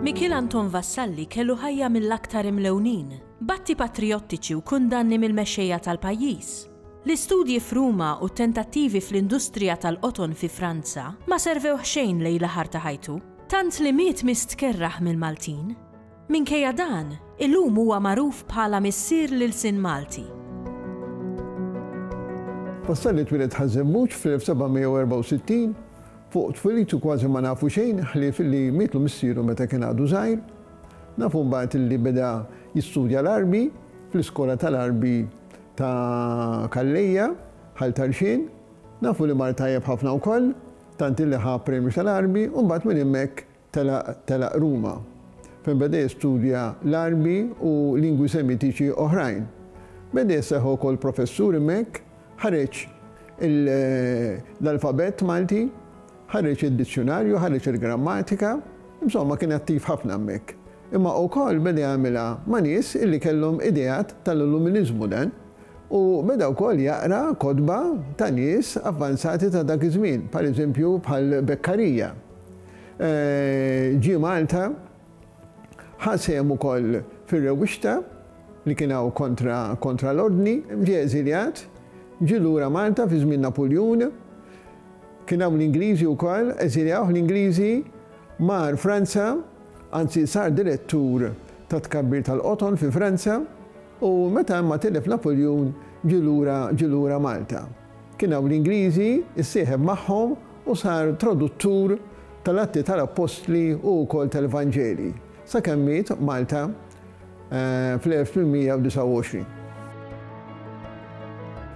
Mikiel Anton Vassalli kellu ħajja mill-aktar imlewnin, b'atti patrijottiċi u kundanni mill-mexxejja tal-pajjiż. L-istudji f'Ruma u t-tentattivi fl-industrija tal-qoton fi Franza ma servewh xejn lejn l-aħar ta' ħajtu. Tant li miet mistkerraħ mill-Maltin. Minkejja dan, illum huwa magħruf bħala missier l-ilsien Malti. Vassalli twieled Ħaż-Żebbuġ fl-1764. Fuq twilitu kważi ma nafu xejn ħlief li mietlu missieru meta kien għadu żgħir. Nafu mbagħad li beda jistudja l-Għarbi fl-iskola tal-Għarbi ta' Calleja, Ħal Tarxien. Nafu li mar tajjeb ħafna wkoll. tant illi ħa premju tal-Għarbi u mbagħad minn hemmhekk telaq telaq Ruma, fejn beda jistudja l-Għarbi u lingwi Semitiċi oħrajn. Beda jisseħħ ukoll professur hemmhekk, ħareġ l-alfabett Malti, ħareġ id-dizzjunarju, ħareġ il-grammatika, insomma kien attiv ħafna hemmhekk. Imma ukoll beda jagħmilha ma' nies illi kellhom ideat tal-Illuminiżmu dan. u beda wkoll jaqra kotba ta' nies avvanzati ta' dak iż-żmien, pereżempju bħal Beccaria. Ġie Malta, ħa sehem ukoll fir-rewwixta li kien hawn kontra kontra l-Ordni, ġie eżiljat, ġie lura Malta fi żmien Napuljun, kien hawn l-Ingliżi wkoll, eżiljawh l-Ingliżi, mar Franza, anzi sar direttur tat-tkabbir tal-qoton fi Franza, U meta imma tilef Napuljun ġie lura ġie lura Malta. Kien hawn l-Ingliżi, issieħeb magħhom u sar traduttur tal-Atti tal-Appostli u wkoll tal-Evanġelji, sakemm miet Malta fl-1829.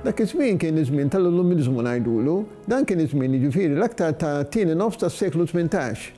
Dak iż-żmien kien iż-żmien tal-Illuminiżmu ngħidulu, dan kien iż-żmien jiġifieri l-aktar tat-tieni nofs tas-seklu tmintax.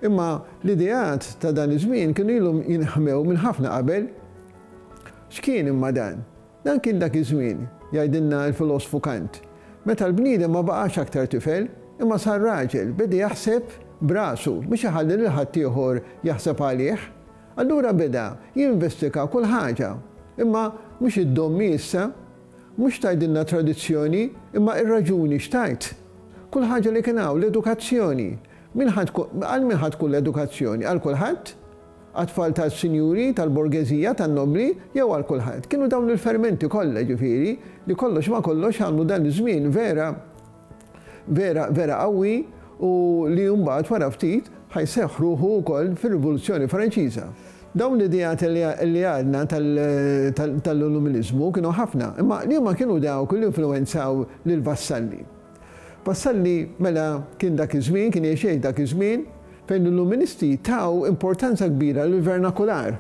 Imma l-ideat ta' dan iż-żmien kienu ilhom jinħmew minn ħafna qabel. X'kien imma dan? Dan kien dak iż-żmien, jgħidilna l-filosfu Kant, meta l-bniedem ma baqax aktar tifel, imma sar raġel, beda jaħseb b'rasu, mhux iħalli lil ħaddieħor jaħseb għalih. Allura beda jinvestiga kull ħaġa. Imma mhux id-dommi issa. Mhux tgħidilna tradizzjoni, imma ir-raġuni x'tgħid. Kull ħaġa li kien hawn, l-edukazzjoni. Min ħa tkun, għal min ħa tkun l-edukazzjoni? Għal kulħadd? Għat-tfal tas-sinjuri, tal-borgeżija, tan-nobbli, jew għal kulħadd? Kienu dawn il-fermenti kollha, jiġifieri, li kollox ma' kollox għamlu dan iż-żmien vera, vera, vera qawwi u li mbagħad wara ftit ħa jseħħ ruħu wkoll fir-Rivoluzzjoni Franċiża. Dawn l-ideat li għadna tal-Illuminiżmu kienu ħafna, imma liema kienu dawk li influwenzaw lill-vassalli? Vassalli mela kien dak iż-żmien, kien jgħix jgħid dak iż-żmien, fejn l-Illuministi taw importanza kbira lill-vernakular.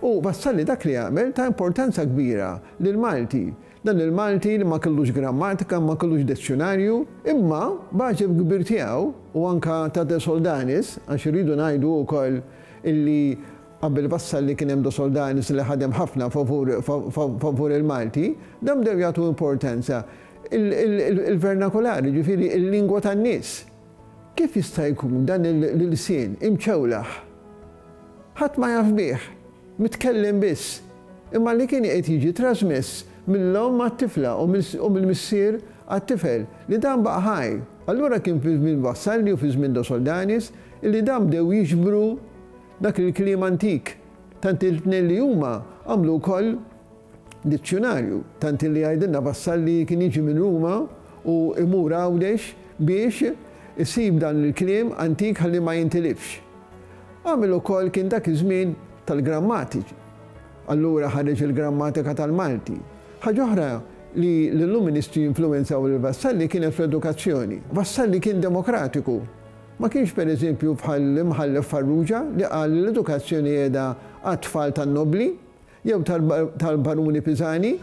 U Vassalli dak li għamel ta importanza kbira lill-Malti, dan il-Malti li ma kellux grammatika, ma kellux dezzjunarju, imma b'għaġeb kbir tiegħu, u anke ta' De Soldanis, għax irridu ngħidu wkoll illi Qabel Vassalli li kien hemm do Soldani li ħadem ħafna favur favur il-Malti, dawn bdew jagħtu importanza il-vernakulari, jiġifieri il-lingwa tan-nies. Kif jista' jkun dan l-ilsien imċewlaħ ħadd ma jaf bih, mitkellem biss, imma li kien iqgħid jiġi trażmess mill-omm għat-tifla u mill-missier għat-tifel, li dan baqa' ħaj. Allura kien fi żmien Vassalli u fi żmien do Soldanis illi dawn bdew jiġbru Dak il-kliem antik, tant il-tnejn li huma għamlu wkoll dizzjunarju, tant illi jgħidilna Vassall li kien jiġi minn Ruma u jmur Għawdex biex isib dan il-kliem antik ħalli ma jintilifx. Għamel ukoll kien dak iż-żmien tal-grammatiċi. Allura ħareġ il-grammatika tal-Malti. Ħaġa oħra li l-Illuministi influwenzaw lil Vassalli kienet fl-edukazzjoni. Vassalli kien demokratiku. Ma kienx pereżempju bħall-Imħallef Farrugia li qal li l-edukazzjoni qiegħda għat-tfal tan-nobbli, jew tal-Baruni Pisani,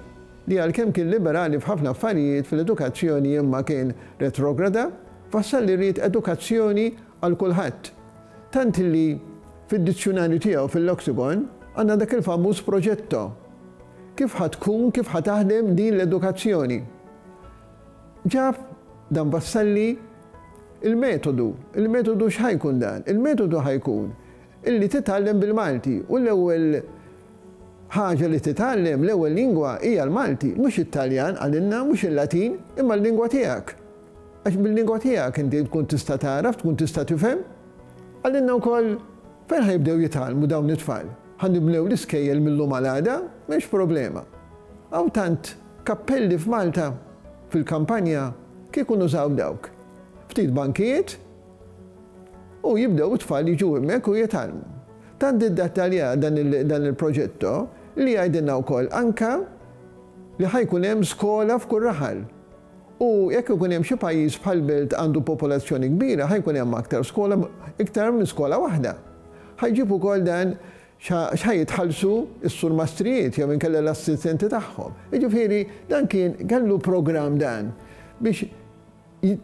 li għalkemm kien liberali f'ħafna affarijiet fil-edukazzjoni imma kien retrograda, Vassalli li ried edukazzjoni għal kulħadd. Tant li fid-dizzjunarju tiegħu fil-Loxicon għandna dak il-famuż progetto. Kif ħa tkun, kif ħa taħdem din l-edukazzjoni? Ġab dan Vassalli il-metodu. Il-metodu x'ħa jkun dan? Il-metodu ħa jkun illi titgħallem bil-Malti u l-ewwel ħaġa li titgħallem l-ewwel lingwa hija l-Malti, mhux it-Taljan għalilna, mhux il-Latin, imma l-lingwa tiegħek. Għax bil-lingwa tiegħek inti tkun tista' tagħraf, tkun tista' tifhem. Għalilna wkoll Fejn ħa jibdew jitgħallmu dawn it-tfal? Ħa nibnew l-iskejjel mil-lum għal għada? M'hemmx problema. Hawn tant kappelli f'Malta, fil-kampanja, kieku nużaw dawk. Ftit bankijiet u jibdew it-tfal jiġu hemmhekk u jitgħallmu. Tant iddettaljah dan il-progetto li jgħidilna wkoll anke li ħa jkun hemm skola f'kull raħal. U jekk ikun hemm xi pajjiż bħal belt għandu popolazzjoni kbira ħa jkun hemm aktar skola, iktar minn skola waħda. Ħa jġib ukoll dan x'ħa jitħallsu s-surmastrijiet jew inkella l-assistenti tagħhom. Jiġifieri dan kien kellu programm dan biex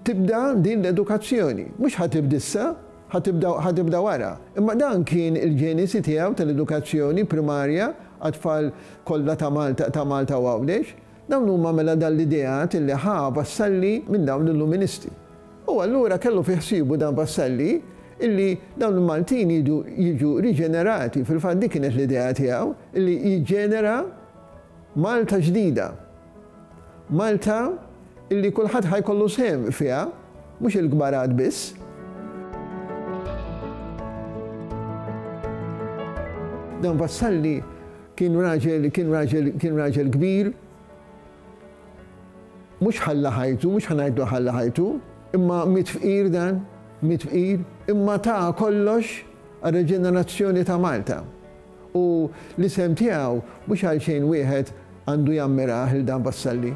tibda din l-edukazzjoni. Mhux ħa tibda issa, ħa tibda ħa tibda wara. Imma dan kien il-ġenesi tiegħu tal-edukazzjoni primarja għat-tfal kollha ta' Malta ta' Malta u Għawdex. Dawn huma mela dan l-ideat li ħa Vassalli minn dawn l-Illuministi. U allura kellu fi ħsiebu dan Vassalli illi dawn il-Maltin jridu jiġu riġenerati, fil-fatt dik kienet l-idea tiegħu, illi jiġġenera Malta ġdida. Malta illi kulħadd ħa jkollu sehem fiha, mhux il-kbarat biss. Dan Vassalli Kien raġel, kien raġel, kien raġel kbir. Mhux ħalla ħajtu, mhux ħa ngħidlu ħalla ħajtu, imma miet fqir dan, miet fqir, imma ta kollox għar-reġenerazzjoni ta' Malta. U l-isem tiegħu mhux għalxejn wieħed għandu jammirah lil dan Vassalli.